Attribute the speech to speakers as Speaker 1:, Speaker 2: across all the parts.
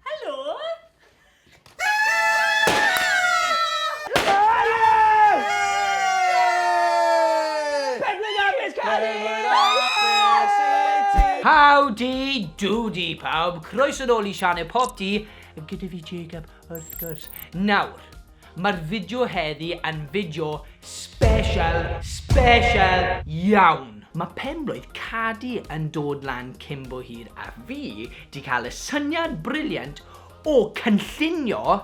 Speaker 1: Helo! Howdy doody pawb, croeso nôl i sianel Pop Di gyda fi Jacob wrth gwrs. Nawr, Mae'r fideo heddi yn fideo special, special iawn! Mae penblwydd Cadi yn dod lan cyn bo hir a fi 'di cael y syniad briliant o cynllunio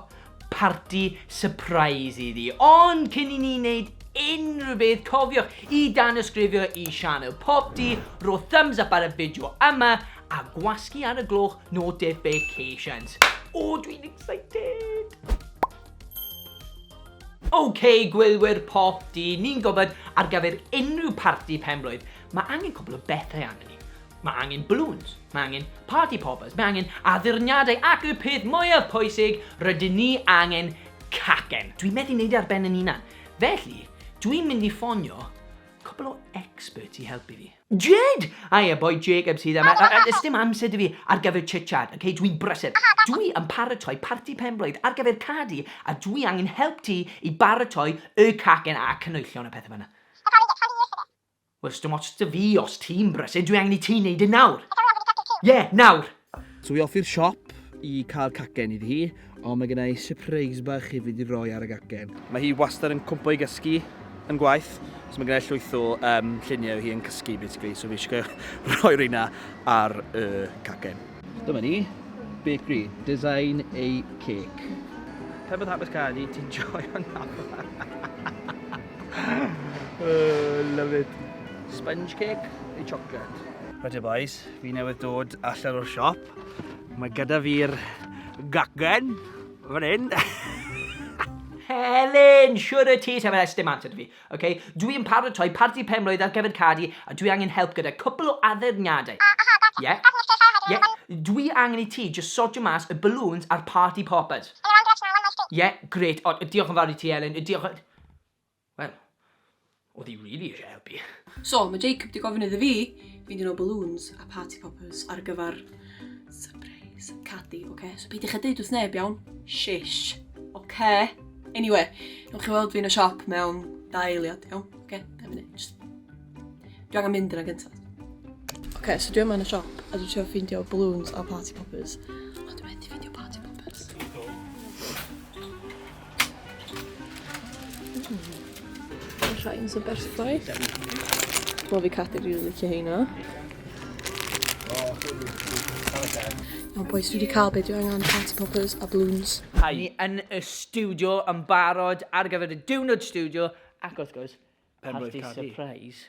Speaker 1: parti sypreis iddi. Ond cyn i ni wneud unrhyw beth cofiwch i danysgrifio i sianel Popty, rho thumbs up ar y fideo yma A gwasgu ar y gloch notifications. O, dwi'n excited! OK, gwylwyr pop di, ni'n gofod ar gyfer unrhyw parti penblwydd, mae angen cwbl o bethau arnyn ni. Mae angen balloons, mae angen party poppers, mae angen addurniadau ac y peth mwyaf pwysig, rydyn ni angen cacen. Dwi'n methu neud e ar ben yn unan. Felly, dwi'n mynd i ffonio cwbl o experts i helpu fi. Jade! Hiya boy, Jacob sydd yma. Yy, yy, sdim amser 'da fi ar gyfer chit-chat, ok? Dwi'n brysur. Dwi yn paratoi parti penblwydd ar gyfer cad i a dwi angen help ti i baratoi y cacen a canwyllon a pethe fel 'na. Wel, sdim ots 'da fi os ti'n brysur, dwi angen i ti neud e nawr. Ie, nawr! So i offi'r siop i cael cacen iddi hi, ond mae gennau surprise bach hefyd i roi ar y gacen. Mae hi wastad yn cwmpo i gysgu yn gwaith, so mae gennau llwyth o um, lluniau hi yn cysgu basically, so fi eisiau rhoi reina ar y cacen. Dyma ni, bakery, design a cake. Pe bod hapus cael i, ti'n joio'n hapus. oh, love it. Sponge cake neu chocolate? Right here boys, Fi newydd dod allan o'r siop. Mae gyda fi'r gacen fan hyn. Helen, siwr y ti, sef yn estym at ydw fi. Okay? Dwi'n paratoi parti penblwydd ar gyfer Cardi a dwi angen help gyda cwpl o addurniadau. Ie? Ie? Dwi angen i ti just sortio mas y balloons a'r party poppers. Ie, gret. O, diolch yn fawr i ti, Helen. Diolch yn... Wel, oedd hi rili eisiau helpu. So, mae Jacob 'di gofyn iddo fi fynd i nôl balloons a party poppers ar gyfer surprise Cadi, oce? So peidiwch â deud wrth neb, iawn? Shish, oce? Anyway, newch chi weld fi yn y siop mewn dau eiliad, iawn? Oce, dau munud, just... Dwi angen mynd yna gyntaf. Oce, so dwi yma yn y siop a dwi'n trio ffeindio balloons a party poppers. Rhain sy'n berffaith. Wel fi Cathy rili licio heina. O boys, dwi wedi cael beth dwi angen party poppers a balloons. Hi. Ni yn y studio yn barod ar gyfer y diwrnod studio ac wrth gwrs, party surprise.